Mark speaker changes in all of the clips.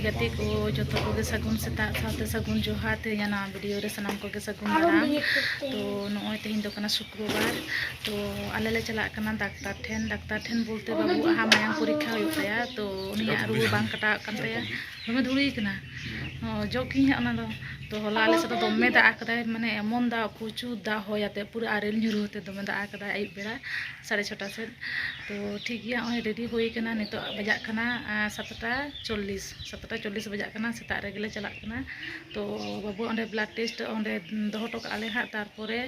Speaker 1: ᱜᱟᱛᱮ ᱠᱚ ᱡᱚᱛᱚ ᱠᱚᱜᱮ ᱥᱟᱹᱜᱩᱱ ᱥᱮᱛᱟᱜ ᱥᱟᱶᱛᱮ ᱥᱟᱹᱜᱩᱱ ᱡᱚᱦᱟᱨ ᱛᱮᱦᱮᱧᱟᱜ ᱱᱚᱣᱟ ᱵᱷᱤᱰᱤᱭᱳ ᱨᱮ ᱥᱟᱱᱟᱢ ᱠᱚᱜᱮ ᱥᱟᱹᱜᱩᱱ ᱫᱟᱨᱟᱢ ᱛᱚ ᱱᱚᱜᱼᱚᱭ ᱛᱮᱦᱮᱧ ᱫᱚ ᱠᱟᱱᱟ ᱥᱩᱠᱨᱚᱵᱟᱨ ᱛᱚ ᱟᱞᱮ ᱞᱮ ᱪᱟᱞᱟᱜ ᱠᱟᱱᱟ ᱰᱟᱠᱛᱟᱨ ᱴᱷᱮᱱ ᱰᱟᱠᱛᱟᱨ ᱴᱷᱮᱱ ᱵᱚᱞᱛᱮ ᱵᱟᱹᱵᱩ ᱟᱦᱟ ᱢᱟᱭᱟᱝ ᱯᱚᱨᱤᱠᱠᱷᱟ ᱦᱩᱭᱩᱜ ᱛᱟᱭᱟ ᱛᱚ ᱩᱱᱤᱭᱟᱜ ᱨᱩᱣᱟᱹ ᱵᱟᱝ ᱠᱟᱴᱟᱣᱚᱜ ᱠᱟᱱ ᱛᱟᱭᱟ ᱫᱚᱢᱮ ᱫᱷᱩᱲᱤ ᱠᱟᱱᱟ ᱚᱡᱚᱜ ᱠᱤᱧ ᱦᱟᱸᱜ ᱚᱱᱟ ᱫᱚ ᱛᱚ ᱦᱚᱞᱟ ᱟᱞᱮ ᱥᱮᱫ ᱫᱚ ᱫᱚᱢᱮ ᱫᱟᱜ ᱟᱠᱟᱫᱟᱭ ᱢᱟᱱᱮ ᱮᱢᱚᱱ ᱫᱟᱜ ᱯᱨᱚᱪᱩᱨ ᱫᱟᱜ ᱦᱚᱭ ᱟᱛᱮ ᱯᱩᱨᱟᱹ ᱟᱨᱮᱞ ᱧᱩᱨᱩ ᱟᱛᱮ ᱫᱚᱢᱮ ᱫᱟᱜ ᱟᱠᱟᱫᱟᱭ ᱟᱹᱭᱩᱵ ᱵᱮᱲᱟ ᱥᱟᱲᱮ ᱪᱷᱚᱴᱟ ᱥᱮᱫ ᱛᱚ ᱴᱷᱤᱠ ᱜᱮᱭᱟ ᱱᱚᱜᱼᱚᱭ ᱨᱮᱰᱤ ᱦᱩᱭ ᱠᱟᱱᱟ ᱱᱤᱛᱚᱜ ᱵᱟᱡᱟᱜ ᱠᱟᱱᱟ ᱥᱟᱛᱴᱟ ᱪᱚᱞᱞᱤᱥ ᱥᱟᱛᱴᱟ ᱪᱚᱞᱞᱤᱥ ᱵᱟᱡᱟᱜ ᱠᱟᱱᱟ ᱥᱮᱛᱟᱜ ᱨᱮᱜᱮ ᱞᱮ ᱪᱟᱞᱟᱜ ᱠᱟᱱᱟ ᱛᱚ ᱵᱟᱹᱵᱩ ᱚᱸᱰᱮ ᱵᱞᱟᱰ ᱴᱮᱥᱴ ᱚᱸᱰᱮ ᱫᱚᱦᱚ ᱦᱚᱴᱚ ᱠᱟᱜᱼᱟ ᱞᱮ ᱦᱟᱸᱜ ᱛᱟᱨᱯᱚᱨᱮ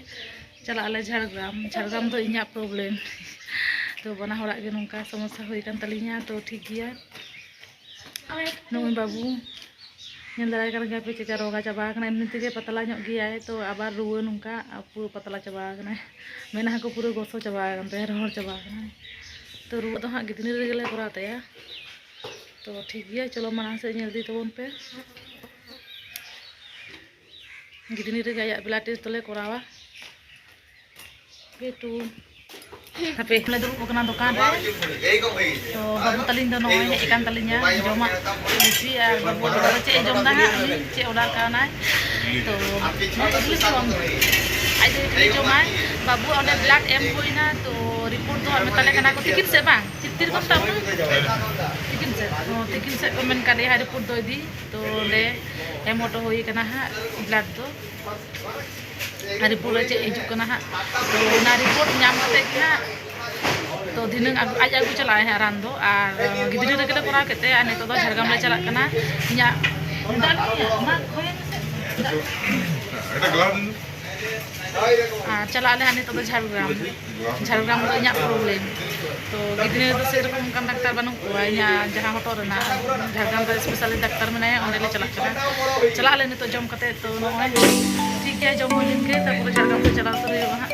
Speaker 1: ᱪᱟᱞᱟᱜ ᱟᱞᱮ ᱡᱷᱟᱲᱜᱨᱟᱢ ᱡᱷᱟᱲᱜᱨᱟᱢ ᱫᱚ ᱤᱧᱟᱹᱜ ᱯᱨᱚᱵᱞᱮᱢ ᱛᱚ ᱵᱟᱱᱟ ᱦᱚᱲᱟᱜ ᱜᱮ ᱱᱚᱝᱠᱟ ᱥᱚᱢᱚᱥᱥᱟ ᱦᱩᱭ ᱠᱟᱱ ᱛᱟᱹᱞᱤᱧᱟ ᱛᱚ ᱴᱷᱤᱠ ᱜᱮᱭᱟ ᱱᱚᱜᱼᱚᱭ ᱵᱟᱹᱵᱩ ᱧᱮᱞ ᱫᱟᱲᱮᱭᱟᱭ ᱠᱟᱱ ᱜᱮᱭᱟᱯᱮ ᱪᱮᱫᱠᱟ ᱨᱳᱜᱟ ᱪᱟᱵᱟ ᱟᱠᱟᱱᱟ ᱮᱢᱱᱤ ᱛᱮᱜᱮ ᱯᱟᱛᱞᱟ ᱧᱚᱜ ᱜᱮᱭᱟᱭ ᱛᱚ ᱟᱵᱟᱨ ᱨᱩᱣᱟᱹ ᱱᱚᱝᱠᱟ ᱯᱩᱨᱟᱹ ᱯᱟᱛᱞᱟ ᱪᱟᱵᱟ ᱟᱠᱟᱱᱟᱭ ᱢᱮᱫᱦᱟ ᱠᱚ ᱯᱩᱨᱟᱹ ᱜᱚᱥᱚ ᱪᱟᱵᱟ ᱟᱠᱟᱱ ᱛᱟᱭᱟ ᱨᱚᱦᱚᱲ ᱪᱟᱵᱟ ᱟᱠᱟᱱᱟᱭ ᱛᱚ ᱨᱩᱣᱟᱹ ᱫᱚ ᱦᱟᱸᱜ ᱜᱤᱫᱽᱨᱟᱹ ᱨᱮᱜᱮ ᱞᱮ ᱠᱚᱨᱟᱣ ᱛᱟᱭᱟ ᱛᱚ ᱴᱷᱤᱠ ᱜᱮᱭᱟ ᱪᱚᱞᱚ ᱢᱟᱲᱟᱝ ᱥᱮᱫ ᱧᱮᱞ ᱤᱫᱤ ᱛᱟᱵᱚᱱ ᱯᱮ ᱜᱤᱫᱽᱨᱟᱹ ᱨᱮᱜᱮ ᱟᱭᱟᱜ ᱵᱞᱟᱰ ᱴᱮᱥᱴ ᱫᱚᱞᱮ ᱠᱚᱨᱟᱣᱟ ᱡᱮᱦᱮᱛᱩ ᱦᱟᱯᱮ ᱞᱮ ᱫᱩᱲᱩᱵ ᱟᱠᱟᱱᱟ ᱫᱚᱠᱟᱱ ᱨᱮ ᱛᱚ ᱵᱟᱹᱵᱩ ᱛᱟᱹᱞᱤᱧ ᱫᱚ ᱱᱚᱜᱼᱚᱭ ᱦᱮᱡ ᱟᱠᱟᱱ ᱛᱟᱹᱞᱤᱧᱟ ᱡᱚᱢᱟᱜ ᱞᱩᱪᱤ ᱟᱨ ᱵᱟᱹᱵᱩ ᱫᱚ ᱪᱮᱫ ᱮ ᱡᱚᱢ ᱮᱫᱟ ᱦᱟᱸᱜ ᱩᱱᱤ ᱪᱮᱫ ᱚᱰᱟᱨ ᱠᱟᱣᱱᱟᱭ ᱛᱚ ᱤᱰᱞᱤ ᱥᱚᱝ ᱟᱡ ᱫᱚ ᱤᱰᱞᱤ ᱡᱚᱢᱟᱭ ᱵᱟᱹᱵᱩ ᱚᱸᱰᱮ ᱵᱞᱟᱰ ᱮᱢ ᱦᱩᱭᱱᱟ ᱛᱚ ᱨᱤᱯᱳᱨᱴ ᱫᱚ ᱢᱮᱛᱟᱞᱮ ᱠᱟᱱᱟ ᱠᱚ ᱛᱤᱠᱤᱱ ᱥᱮᱫ ᱵᱟᱝ ᱛᱤᱨ ᱠᱚ ᱢᱮᱛᱟᱜ ᱵᱚᱱᱟ ᱛᱤᱠᱤᱱ ᱥᱮᱫ ᱛᱤᱠᱤᱱ ᱥᱮᱫ ᱠᱚ ᱢᱮᱱ ᱠᱟᱫ ᱞᱮᱭᱟ ᱨᱤᱯᱳᱨᱴ ᱫᱚ ᱤᱫᱤ ᱛᱚ ᱚᱸᱰᱮ ᱮᱢ ᱦᱚᱴᱚ ᱦᱩᱭ ᱠᱟᱱᱟ ᱦᱟᱸᱜ ᱵᱞᱟᱰ ᱫᱚ ᱨᱤᱯᱳᱨᱴ ᱨᱮ ᱪᱮᱫ ᱦᱤᱡᱩᱜ ᱠᱟᱱᱟ ᱦᱟᱸᱜ ᱛᱚ ᱚᱱᱟ ᱨᱤᱯᱳᱨᱴ ᱧᱟᱢ ᱠᱟᱛᱮᱫ ᱜᱮ ᱦᱟᱸᱜ ᱛᱚ ᱫᱷᱤᱱᱟᱹᱝ ᱟᱡ ᱟᱹᱜᱩ ᱪᱟᱞᱟᱜᱼᱟᱭ ᱦᱟᱸᱜ ᱨᱟᱱ ᱫᱚ ᱟᱨ ᱜᱤᱫᱽᱨᱟᱹ ᱨᱮᱜᱮ ᱞᱮ ᱠᱚᱨᱟᱣ ᱠᱮᱫ ᱛᱟᱭᱟ ᱟᱨ ᱱᱤᱛᱚᱜ ᱫᱚ ᱡᱷᱟᱲᱜᱨᱟᱢ ᱞᱮ ᱪᱟᱞᱟᱜ ᱠᱟᱱᱟ ᱤᱧᱟᱹᱜ ᱟᱨ ᱪᱟᱞᱟᱜ ᱟᱞᱮ ᱦᱟᱸᱜ ᱱᱤᱛᱚᱜ ᱫᱚ ᱡᱷᱟᱲᱜᱨᱟᱢ ᱡᱷᱟᱲᱜᱨᱟᱢ ᱫᱚ ᱤᱧᱟᱹᱜ ᱯᱨᱚᱵᱞᱮᱢ ᱛᱚ ᱜᱤᱫᱽᱨᱟᱹ ᱫᱚ ᱥᱮᱨᱚᱠᱚᱢ ᱚᱱᱠᱟᱱ ᱰᱟᱠᱛᱟᱨ ᱵᱟᱹᱱᱩᱜ ᱠᱚᱣᱟ ᱤᱧᱟᱹᱜ ᱡᱟᱦᱟᱸ ᱦᱚᱴᱚᱜ ᱨᱮᱱᱟᱜ ᱡᱷᱟᱲᱜᱨᱟᱢ ᱨᱮ ᱥᱯᱮᱥᱟᱞᱤ ᱰᱟᱠᱛᱟᱨ ᱢᱮᱱᱟᱭᱟ ᱚᱸᱰᱮ ᱞᱮ ᱪᱟᱞᱟᱜ ᱠᱟᱱᱟ ᱪᱟᱞᱟᱜ ᱟᱞᱮ ᱱᱤᱛᱚᱜ ᱡᱚᱢ ᱠᱟᱛᱮ ᱛᱚ ᱱᱚᱜᱼᱚᱭ ᱴᱷᱤᱠ ᱜᱮᱭᱟ ᱡᱚᱢ ᱦᱩᱭ ᱞᱮᱱ ᱜᱮ ᱛᱟᱨᱯᱚᱨᱮ ᱡᱷᱟᱲᱜᱨᱟᱢ ᱛᱮ ᱪᱟᱞᱟᱣ ᱩᱛᱟᱹᱨ ᱦᱩᱭᱩᱜᱼᱟ ᱦᱟᱸᱜ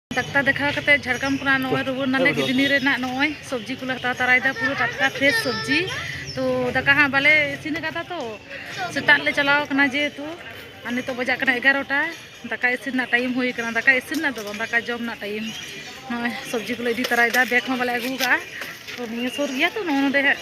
Speaker 1: ᱰᱟᱠᱛᱟᱨ ᱫᱮᱠᱷᱟᱣ ᱠᱟᱛᱮ ᱡᱷᱟᱲᱜᱨᱟᱢ ᱠᱷᱚᱱᱟᱜ ᱱᱚᱜᱼᱚᱭ ᱨᱩᱣᱟᱹᱲ ᱱᱟᱞᱮ ᱠᱤᱰᱱᱤ ᱨᱮᱱᱟᱜ ᱱᱚᱜᱼᱚᱭ ᱥᱚᱵᱽᱡᱤ ᱠᱚᱞᱮ ᱦᱟᱛᱟᱣ ᱛᱟᱨᱟᱭᱮᱫᱟ ᱯᱩᱨᱟᱹ ᱴᱟᱴᱠᱟ ᱯᱷᱨᱮᱥ ᱥᱚᱵᱽᱡᱤ ᱛᱚ ᱫᱟᱠᱟ ᱦᱟᱸᱜ ᱵᱟᱞᱮ ᱤᱥᱤᱱ ᱟᱠᱟᱫᱟ ᱛᱚ ᱥᱮᱛᱟᱜ ᱞᱮ ᱪᱟᱞᱟᱣ ᱟᱠᱟᱱᱟ ᱡᱮᱦᱮᱛᱩ ᱟᱨ ᱱᱤᱛᱚᱜ ᱵᱟᱡᱟᱜ ᱠᱟᱱᱟ ᱮᱜᱟᱨᱚᱴᱟ ᱫᱟᱠᱟ ᱤᱥᱤᱱ ᱨᱮᱱᱟᱜ ᱴᱟᱭᱤᱢ ᱦᱩᱭ ᱟᱠᱟᱱᱟ ᱫᱟᱠᱟ ᱤᱥᱤᱱ ᱨᱮᱱᱟᱜ ᱫᱚ ᱵᱟᱝ ᱫᱟᱠᱟ ᱡᱚᱢ ᱨᱮᱱᱟᱜ ᱴᱟᱭᱤᱢ ᱱᱚᱜᱼᱚᱭ ᱥᱚᱵᱽᱡᱤ ᱠᱚᱞᱮ ᱤᱫᱤ ᱛᱟᱨᱟᱭᱮᱫᱟ ᱵᱮᱜᱽ ᱦᱚᱸ ᱵᱟᱞᱮ ᱟᱹᱜᱩ ᱟᱠᱟᱫᱼᱟ ᱛᱚ ᱱᱤᱭᱟᱹ ᱥᱩᱨ ᱜᱮᱭᱟ ᱛᱚ ᱱᱚᱜᱼᱚ ᱱᱚᱰᱮ ᱦᱟᱸᱜ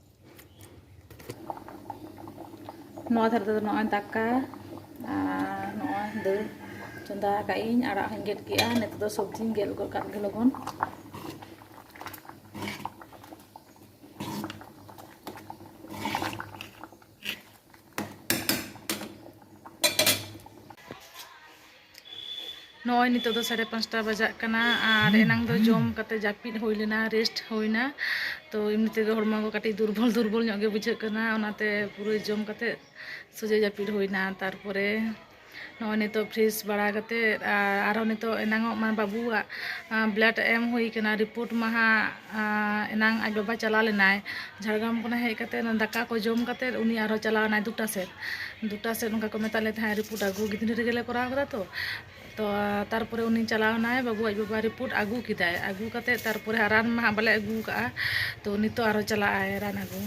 Speaker 1: ᱱᱚᱣᱟ ᱫᱷᱟᱨᱮ ᱛᱮᱫᱚ ᱱᱚᱜᱼᱚᱭ ᱫᱟᱠᱟ ᱟᱨ ᱱᱚᱜᱼᱚᱭ ᱫᱟᱹᱞ ᱪᱚᱸᱫᱟ ᱟᱠᱟᱫ ᱤᱧ ᱟᱲᱟᱜ ᱦᱚᱸᱧ ᱜᱮᱫ ᱠᱮᱫᱼᱟ ᱱᱤᱛᱚᱜ ᱫᱚ ᱥᱚᱵᱽᱡᱤᱧ ᱜᱮᱫ ᱜᱚᱫ ᱠᱟᱜ ᱜᱮ ᱞᱚᱜᱚᱱ ᱱᱚᱜᱼᱚᱭ ᱱᱤᱛᱚᱜ ᱫᱚ ᱥᱟᱲᱮ ᱯᱟᱸᱪᱴᱟ ᱵᱟᱡᱟᱜ ᱠᱟᱱᱟ ᱟᱨ ᱮᱱᱟᱝ ᱫᱚ ᱡᱚᱢ ᱠᱟᱛᱮ ᱡᱟᱹᱯᱤᱫ ᱦᱩᱭ ᱞᱮᱱᱟ ᱨᱮᱥᱴ ᱦᱩᱭᱱᱟ ᱛᱚ ᱮᱢᱱᱤ ᱛᱮᱜᱮ ᱦᱚᱲᱢᱚ ᱠᱚ ᱠᱟᱹᱴᱤᱡ ᱫᱩᱨᱵᱚᱞ ᱫᱩᱨᱵᱚᱞ ᱧᱚᱜ ᱜᱮ ᱵᱩᱡᱷᱟᱹᱜ ᱠᱟᱱᱟ ᱚᱱᱟᱛᱮ ᱯᱩᱨᱟᱹ ᱡᱚᱢ ᱠᱟᱛᱮ ᱥᱚᱡᱷᱮ ᱡᱟᱹᱯᱤᱫ ᱦᱩᱭᱱᱟ ᱛᱟᱨᱯᱚᱨᱮ ᱱᱚᱜᱼᱚᱭ ᱱᱤᱛᱚᱜ ᱯᱷᱨᱮᱥ ᱵᱟᱲᱟ ᱠᱟᱛᱮ ᱟᱨ ᱟᱨᱦᱚᱸ ᱱᱤᱛᱚᱜ ᱮᱱᱟᱝᱚᱜ ᱢᱟ ᱵᱟᱹᱵᱩᱣᱟᱜ ᱵᱞᱟᱰ ᱮᱢ ᱦᱩᱭ ᱠᱟᱱᱟ ᱨᱤᱯᱳᱨᱴ ᱢᱟ ᱦᱟᱸᱜ ᱮᱱᱟᱝ ᱟᱡ ᱵᱟᱵᱟ ᱪᱟᱞᱟᱣ ᱞᱮᱱᱟᱭ ᱡᱷᱟᱲᱜᱨᱟᱢ ᱠᱷᱚᱱᱟᱜ ᱦᱮᱡ ᱠᱟᱛᱮ ᱫᱟᱠᱟ ᱠᱚ ᱡᱚᱢ ᱠᱟᱛᱮ ᱩᱱᱤ ᱟᱨᱦᱚᱸ ᱪᱟᱞᱟᱣ ᱮᱱᱟᱭ ᱫᱩᱴᱟ ᱥᱮᱫ ᱫᱩᱴᱟ ᱥᱮᱫ ᱚᱱᱠᱟ ᱠᱚ ᱢᱮᱛᱟᱫ ᱞᱮ ᱛᱟᱦᱮᱸᱫ ᱨᱤᱯᱳᱨᱴ ᱟᱹᱜᱩ ᱜᱤᱫᱽᱨᱟᱹ ᱨᱮᱜᱮ ᱞᱮ ᱠᱚᱨᱟᱣ ᱠᱟᱫᱟ ᱛᱚ ᱛᱚ ᱛᱟᱨᱯᱚᱨᱮ ᱩᱱᱤ ᱪᱟᱞᱟᱣ ᱮᱱᱟᱭ ᱵᱟᱹᱵᱩ ᱟᱡ ᱵᱟᱵᱟ ᱨᱤᱯᱳᱨᱴ ᱟᱹᱜᱩ ᱠᱮᱫᱟᱭ ᱟᱹᱜᱩ ᱠᱟᱛᱮ ᱛᱟᱨᱯᱚᱨᱮ ᱨᱟᱱ ᱢᱟ ᱦᱟᱸᱜ ᱵᱟᱞᱮ ᱟᱹᱜᱩ ᱠᱟᱜᱼᱟ ᱛᱚ ᱱᱤᱛᱚᱜ ᱟᱨᱦᱚᱸ ᱪᱟᱞᱟᱜ ᱟᱭ ᱨᱟᱱ ᱟᱹᱜᱩ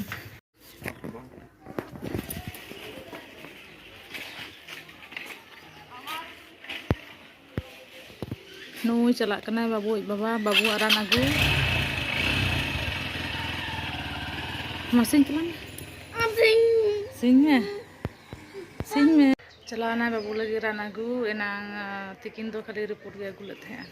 Speaker 1: ᱱᱩᱭ ᱪᱟᱞᱟᱜ ᱠᱟᱱᱟᱭ ᱵᱟᱹᱵᱩ ᱤᱡ ᱵᱟᱵᱟ ᱵᱟᱹᱵᱩ ᱟᱨᱟᱱ ᱟᱹᱜᱩ ᱢᱟᱥᱤᱧ ᱪᱟᱞᱟᱜ ᱥᱤᱧ ᱢᱮ ᱥᱤᱧ ᱢᱮ ᱪᱟᱞᱟᱣᱱᱟᱭ ᱵᱟᱹᱵᱩ ᱞᱟᱹᱜᱤᱫ ᱨᱟᱱ ᱟᱹᱜᱩ ᱮᱱᱟᱝ ᱛᱤᱠᱤᱱ ᱫᱚ ᱠᱷᱟᱹᱞᱤ ᱨᱤᱯᱳᱨᱴ ᱜᱮ ᱟᱹᱜᱩ ᱞᱮᱫ ᱛᱟᱦᱮᱸᱜᱼᱟ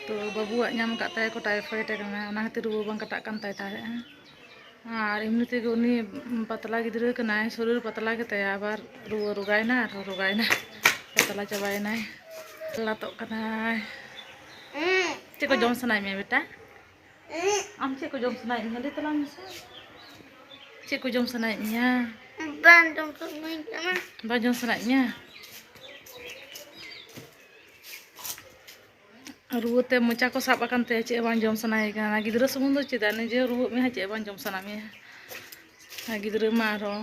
Speaker 1: ᱛᱚ ᱵᱟᱹᱵᱩᱣᱟᱜ ᱧᱟᱢ ᱟᱠᱟᱫ ᱛᱟᱭᱟ ᱠᱚ ᱴᱟᱭᱯᱷᱚᱭᱮᱰ ᱠᱟᱱᱟ ᱚᱱᱟ ᱠᱷᱟᱹᱛᱤᱨ ᱨᱩᱣᱟᱹ ᱵᱟᱝ ᱠᱟᱴᱟᱜ ᱠᱟᱱ ᱛᱟᱭ ᱛᱟᱦᱮᱸᱫᱼᱟ ᱟᱨ ᱮᱢᱱᱤ ᱛᱮᱜᱮ ᱩᱱᱤ ᱯᱟᱛᱞᱟ ᱜᱤᱫᱽᱨᱟᱹ ᱠᱟᱱᱟᱭ ᱥᱚᱨᱤᱨ ᱯᱟᱛᱞᱟ ᱜᱮᱛᱟᱭᱟ ᱟᱵᱟᱨ ᱨᱩᱣᱟᱹ ᱨᱳᱜᱟᱭᱮᱱᱟ ᱟᱨᱦᱚᱸ ᱨᱳᱜᱟᱭᱮᱱᱟ ᱯᱟᱛᱞᱟ ᱪᱟᱵᱟᱭᱮᱱᱟᱭ ᱞᱟᱛᱚᱜ ᱠᱟᱱᱟᱭ ᱪᱮᱫ ᱠᱚ ᱡᱚᱢ ᱥᱟᱱᱟᱭᱮᱫ ᱢᱮᱭᱟ ᱵᱮᱴᱟ ᱟᱢ ᱪᱮᱫ ᱠᱚ ᱡᱚᱢ ᱥᱟᱱᱟᱭᱮᱫ ᱢᱮᱭᱟ ᱞᱟᱹᱭ ᱛᱟᱞᱟᱝ ᱢᱮᱥᱮ ᱪᱮᱫ ᱠᱚ ᱡᱚᱢ ᱥᱟᱱᱟᱭᱮᱫ ᱢᱮᱭᱟ ᱵᱟᱝ ᱡᱚᱢ ᱥᱟᱱᱟᱭᱮᱫ ᱢᱮᱭᱟ ᱨᱩᱣᱟᱹᱛᱮ ᱢᱚᱪᱟ ᱠᱚ ᱥᱟᱵ ᱟᱠᱟᱱ ᱛᱟᱭᱟ ᱪᱮᱫ ᱵᱟᱝ ᱡᱚᱢ ᱥᱟᱱᱟᱭᱮ ᱠᱟᱱᱟ ᱜᱤᱫᱽᱨᱟᱹ ᱥᱩᱢᱩᱝ ᱫᱚ ᱪᱮᱫᱟᱜ ᱱᱤᱡᱮ ᱨᱩᱣᱟᱹᱜ ᱢᱮᱭᱟ ᱪᱮᱫ ᱵᱟᱝ ᱡᱚᱢ ᱥᱟᱱᱟ ᱢᱮᱭᱟ ᱟᱨ ᱜᱤᱫᱽᱨᱟᱹ ᱢᱟ ᱟᱨᱦᱚᱸ